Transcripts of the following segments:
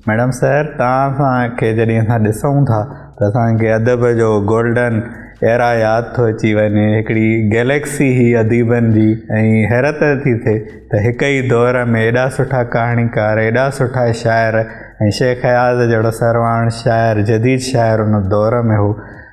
Madam صاحب توهان سان کي جڏهن اسان ڏسون ٿا ته اسان کي ادب جو گولڊن ايرا ياد ٿو اچي وڃي هڪڙي گيليڪسي هئي اديبن جي ۽ حيرت ٿي ٿئي ته هڪ ئي دور ۾ ايڏا سٺا ڪهاڻيڪار ايڏا سٺا شاعر ۽ شيخ اياز جهڙو سرواڻ شاعر جديد شاعر ان دور ۾ هو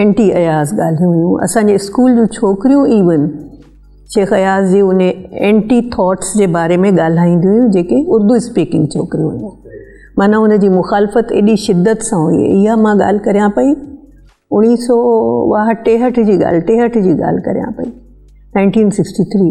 ائنٽي اياز ڳالهيون هيون اسان جي اسڪول جون ڇوڪريون ايون شيخ اياز جي ان ائنٽي ٿاٽس جي باري ۾ ڳالهائينديون هيون جيڪي اردو اسپيڪنگ ڇوڪريون هيون معنيٰ ان جي مخالفت ايڏي شدت سان هئي اها مان ڳالهه ڪريان پئي اڻيهه سو واهه ٽيهٺ جي ڳالهه ٽيهٺ جي ڳالهه ڪريان پئي نائنٽين سڪسٽي تھري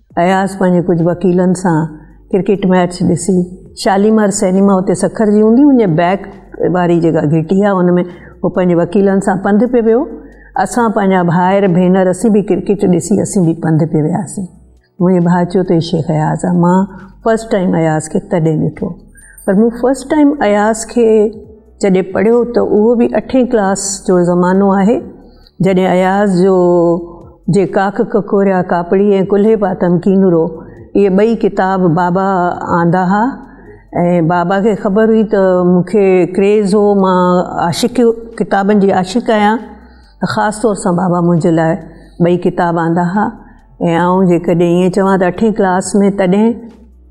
اياز پنهنجي ڪجهه وڪيلن سان ڪرڪيٽ ميچ ڏسي شاليمار سئنيما اتي سکر جي هوندي هوندي بيڪ واري جيڪا گهٽي آهي ان ۾ هو پنهنجي وڪيلن سان پنڌ پي ويو اسان پنهنجا ڀائر ڀينر اسين به ڪرڪيٽ ڏسي اسين به پنڌ پي وياسين منهنجي ڀاء چيو ته شيخ اياز آ مان فرسٽ ٽائيم اياز کي تڏهن ڏٺو پر مون فرسٽ ٽائيم اياز کي جڏهن پڙهيو ته اهو به اٺين ڪلاس جو زمانو آهي جڏهن اياز جو جي ڪاڪ ڪڪوريا ڪاپڙي ۽ ڪلهي پاتم ڪينورو اهي ٻئي ڪتاب بابا آندا ها ۽ بابا کي خبر هئي ته مون کي ڪريز هو مان عاشق ڪتابن جي عاشق آهيان خاص طور سان بابا منهنجي لاء ٻئي ڪتاب آندا ها ۽ آئون جيڪڏهن ائين چوان ته اٺين ڪلاس ۾ تڏهن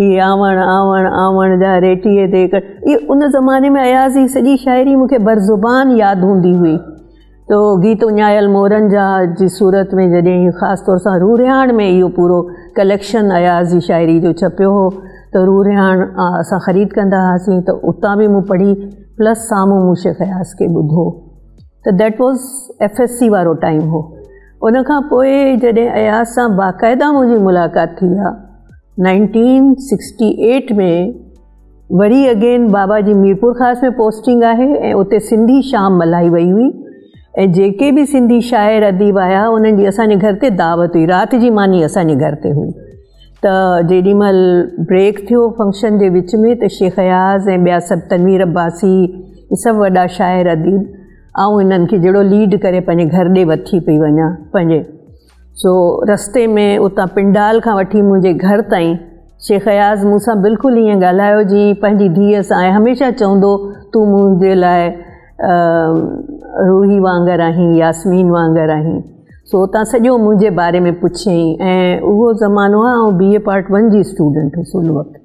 هي آوڻ، آوڻ، آوڻ جا ريٽيء تي ڪڙ، اهي ان زماني ۾ اياز جي سڄي شاعري مون کي بر زبان ياد هوندي هئي. تو گيت اڃايل مورن جا جي صورت ۾ جڏهن هي خاص طور سان رورهياڻ ۾ اهو پورو ڪليڪشن اياز جي شاعري جو ڇپيو هو ته رورهياڻ اسان خريد ڪندا هئاسين ته اتان به مون پڙهي پلس سامهون مون شيخ اياز کي ٻڌو ته that was F S C وارو ٽائيم هو. ان کان پوء جڏهن اياز سان باقاعده منهنجي ملاقات ٿي ها نائنٽين سڪسٽي ايٽ ۾ وري اگين بابا جي ميرپور خاص ۾ پوسٽنگ آهي ۽ اتي سنڌي شام ملهائي وئي هئي ۽ جيڪي به سنڌي شاعر اديب آيا انهن جي اسانجي گهر تي دعوت هئي رات جي ماني اسانجي گهر تي هئي ته جيڏي مهل بريڪ ٿيو فنڪشن جي وچ ۾ ته شيخ اياز ۽ ٻيا سڀ تنوير عباسي هي سڀ وڏا شاعر اديب آئون انهن کي جهڙو ليڊ ڪري پنهنجي گهر ڏي وٺي پئي وڃان پنهنجي سو رستي ۾ اتان پنڊال کان وٺي منهنجي گهر تائين شيخ اياز مون سان بلڪل ائين ڳالهايو جي پنهنجي ڌيء سان آهي هميشه چوندو تون منهنجي لاء روحي وانگر آهين ياسمين وانگر آهين سو اتان سڄو منهنجي باري ۾ پڇيائين ۽ اهو زمانو آهي آئون بي اي پارٽ ون جي اسٽوڊنٽ هيس ان وقت